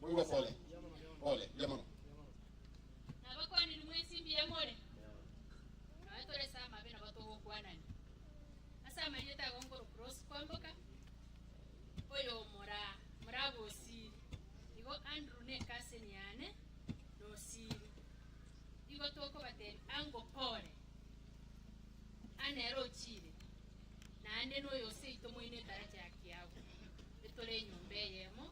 Moigwe pole pole, mbuya mono. Nabakwanire mwensi mbuya more, nonya tore ase amabe nabo togokwanania ase amarieta ago nkorokora ase kwamboka, oyo mora morabwo osiri, igo Andrew ne ekaseni yane nosiri, igo tokobateebia, Ango pore, a nere ochiire, naende noyo o seito moino etaracha ya kiagu, e tore enyomba eyemo,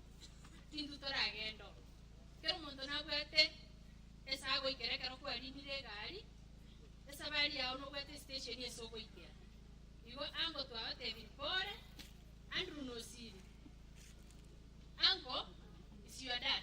tintwe toragende oo. Kera omonto nabwate ase agoikera ekero kwariinire egari, esabari yao nobwate esitesheni ase ogoikera. Igo ango twabateebirie, Pore, Andrew nosiire, ango is your dad.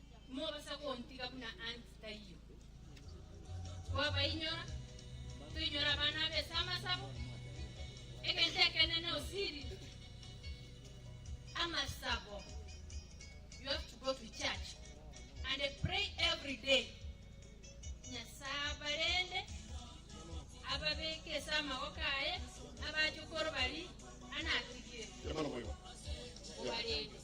Timobasa kontiga buna anti taiyo. Twabainyora, toinyora abana abese amasabo, egento ekenene osiri amasabo. You have to go to church and pray every day. Nyasaye abarende, ababeke ase amaboko aye, abache korwa bari anatigire. Obarende.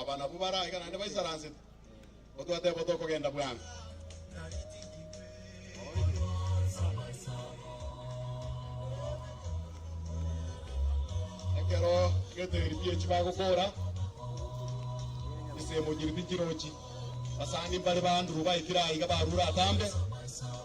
Oba nabwo baraika naende baisaransete, ko twateba tokogenda bwango. Ekero getegeri biechi bagokoora, ensemo nyiribi nchirochi, basani mbare ba Andrew baikire aiga barure atambe,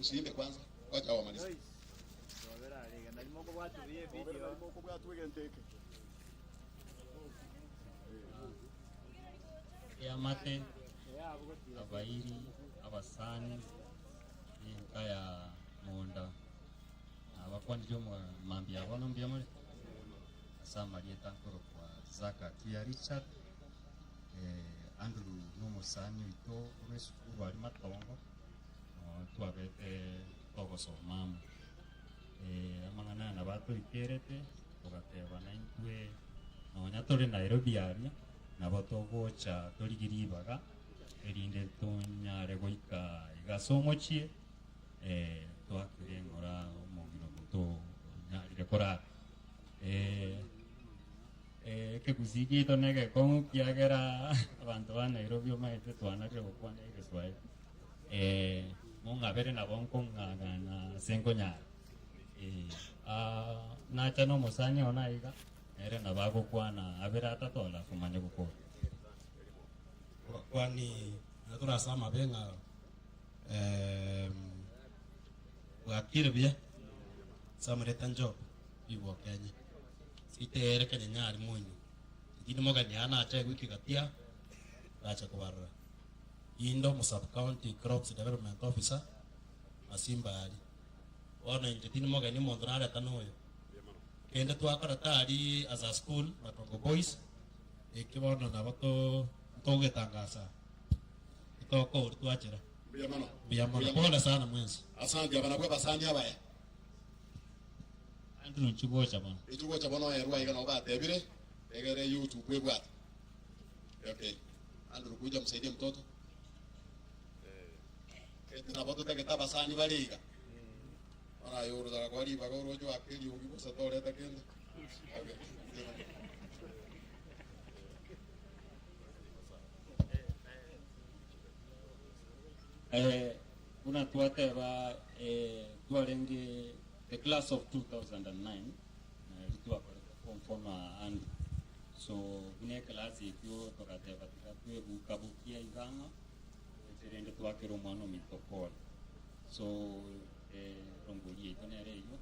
Usiimbe kwanza, wacha wamaliza. Eamate abairi abasani enka ya munda na abakwanire omo- mambia abo mbuya more ase amarieta akorokwa Zaka Tia Richard Andrew na omosani oito bw'esukuru aria Matongo, twabete togosoma amo. Amang'ana aya nabo atoikerete, togatebana intwe nonya tore Nairobi aria, nabo togocha torigie ribaga, erinde tonyare goika iga ase omochie, twakire ng'ora omong'ina omonto onyarire korara. Ee, ekegusii giaito negekong'u kiagera abanto ba Nairobi omanyete twana ria gokwana egeswahili. Ee, mong'abere nabo nkong'ang'ana ase nkonyara. Ee, aa, nacha nomosani oo naiga, nere nabo agokwana abere atato onde akomanya gokwana. Kwa- kwani na tore ase amabe ng'a em, bwakire buya ase amareta Job, rigokenye. Riteyere kanyanyari moinywe, inki nimogania aa nache egwiki gatia ndache kobarora. Inde omosabu county crops development officer Masimba ari. Bono inche tindi mogeni omonto nareta noyo. Kende twakoreta ari as a school Matongo boys eki bono nabo to- ntogetangasa etokoru twachera. Mbuya mono. Mbuya mono. Pole sana mwensi. Asante abanabwo abasani abaya. Naende nochi gocha bono. Nochi gocha bono, Ee, rua iga nabo batebire, egera eyio oche okwebwate. Okay. Andrew, kuja msaidie mtoto. Gete nabo totagete abasani bare iga. Bono aye orosara koa ribaga oroche oake eriogi bosa toreta kende. Okay. Eh, buna twateba eh, twarenge The class of 2009 nari twakorete conform aande so buna eclass ekio togateba tiga twebuka bukia iga ang'o gocha rende twakera omwana ominto Paul so erongori yaito nere eyio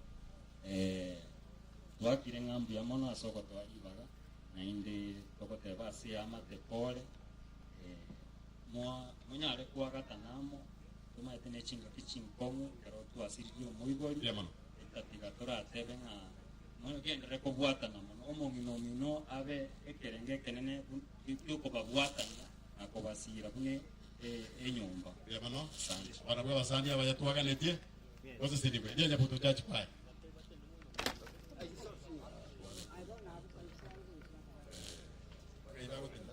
twakire ng'a mbuya mono ase ogotoa ribaga naende togoteba ase amate Paul Moa, monyare koagatana amo, tomaete ne chingaki chinkong'u ekero twasiririe omoibori, otatiga toratebe ng'a, Mogenderere kobwatana mono omong'ina omino abe ekerengo ekenene gi'okobabwatania na kobasiira buna enyomba. Asante. Barabwo abasani abaya twaganetie goseseniwa eria Nyabuto Church Choir. Bakaira goteba.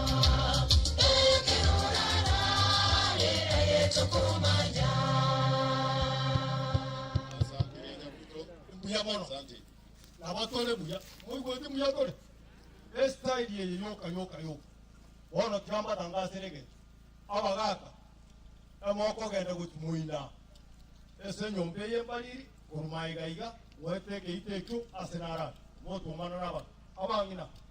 Ekero orarare aye tokomanya. Asantire Nyabuto. Mbuya mono. Asante. Nabo tore buya. Moigweti mbuya tore? Estyle eye yoka yoka yoka. Bono tiga mbatangasere egento. Abagaka, emokogenda gochi moina ase enyomba eye mbariri korwa maega iga, ngoete egeita ekio ase narare. Motuomana na abanto. Abang'ina,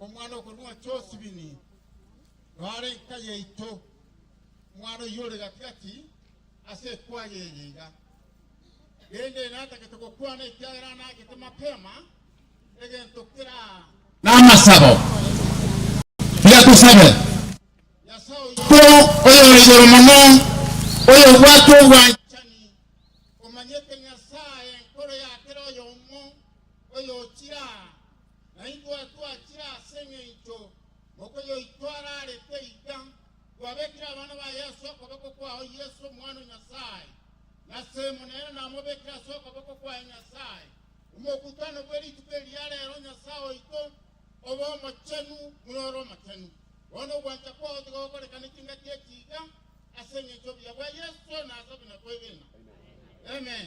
omwana okorwa mwa Josibini, noare enka yaito. Omwana oyio ore gati-gati ase ekwaya eye iga. Rende natagete gokwana ekiagera anagete mapema egento kera namasabo. Tiga tosabe. Nyasae oito oyore igoro mono, oyobwate obwanchani, omanyete Nyasae enkoro ya kera oyomo, oyochira na ingoetwachire ase eng'encho mokoyo oito ararete iga, kwabekire abana ba Yeso okoboko kwao Yeso Omwana o Nyasae, na Semonene namobekire ase okoboko kwaye Nyasae, omokutano bwe rituko eri ya rero Nyasae oito obe omochenu buna ore omochenu. Bono ogwancha kwao tigogorekane chingaki echi iga, ase eng'encho obuya bwa Yeso nasabina kwegena. Amen.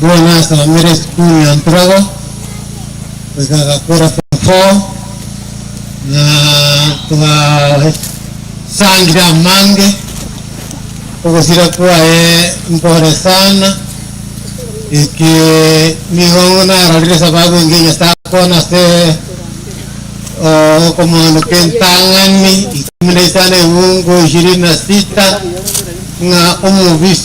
Buna nasomire esukuru ya Ntrogo goika gakora form four, na twasangire amange, ogosira kwaye mpore sana, eke nigo narorire sababu engiya Nyasae akoona ase okomoandoka entang'ani ikomi na isano eungu ishirini na sita ng'a omobisa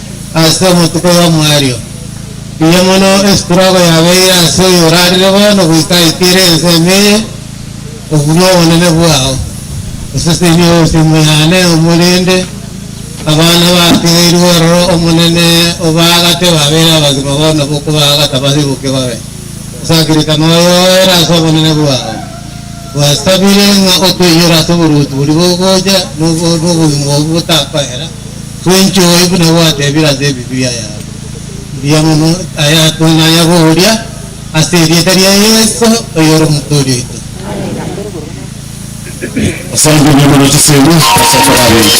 ase amatuko y'omwario. Mbuya mono estrogo yabeire ase oyo orarire bono goika aitiire ense ime eye obunwe obonene bwao. Osesenie obosimo yane omorende abana bategeirwe ororo Omonene obaagate babeire abagima bono bokobaagata basibuke babe osakiritano oyo oere ase obonene bwao. Gwasabire ng'a otoinyore ase oboruoti boria bogocha nobogima obwo botakoera. Gwenchoe buna gwatebire ase Ebibilia yao. Mbuya mono aya twanyare goria ase erieta ria Yeso oyore Omotoori oito. Amina. Asante mbuya mono chisemi ase okoraberia.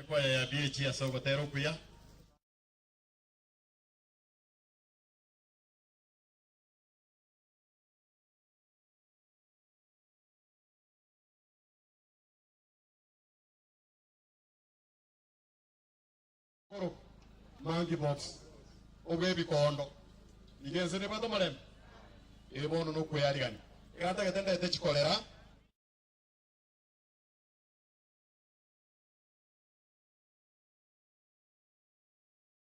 Ekwaya ya BAG ase ogotera okuya. Koro monkey pox obwe ebikondo nigo ense nebwate omorembe? Ee bono nokweyarigania ekero atagete ndete chikorera.